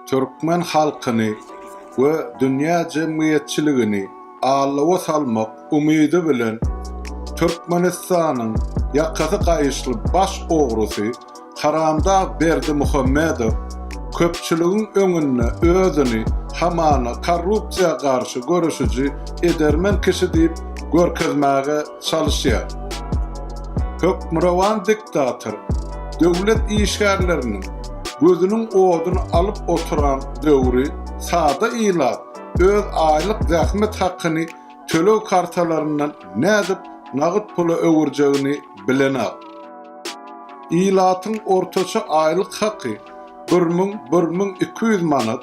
türkmen halkyny we dünýä jemgyýetçiligini allawa salmak umydy bilen Türkmenistanyň ýakasy gaýyşly baş ogrusy Haramdag Berdimuhamedow köpçüligiň öňünde özüni hamana korrupsiýa garşy göreşiji edermen kişi diýip görkezmäge çalyşýar. Hökmürowan diktator döwlet işgärleriniň gözüniň oduny alyp oturan döwri sada ilat öz aýlyk zähmet hakyny töleg kartalaryndan nädip nagyt pula öwürjegini bilenok. Ilatyň ortaça aýlyk haky bir müň, bir müň iki ýüz manat.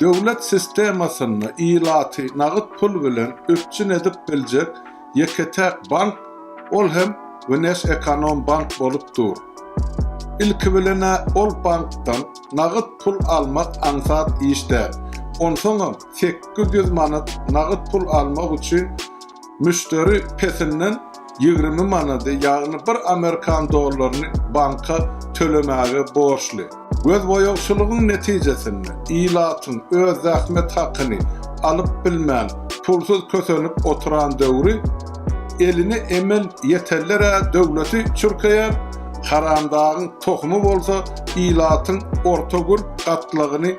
Döwlet sistemasynda ilaty nagt pul bilen üpjün edip biljek ýeke-täk bank, ol hem Wnesekonombank bolup dur. Ilki bilen-ä ol bankdan nagt pul almak aňsat iş däl. Onsoňam sekiz ýüz manat nagt pul almak üçin Müşderi pesinden ýigrimi manady, ýagny bir amerikan dollaryny banka tölemäge borçly. Gözboýagçylygyň netijesinde ilatyň öz zähmet hakyny alyp bilmän pulsuz kösenip oturan döwri eline emel ýeteller-ä döwleti çürkeýär, haramdagyň tohumy bolsa ilatyň orta gür gatlagyny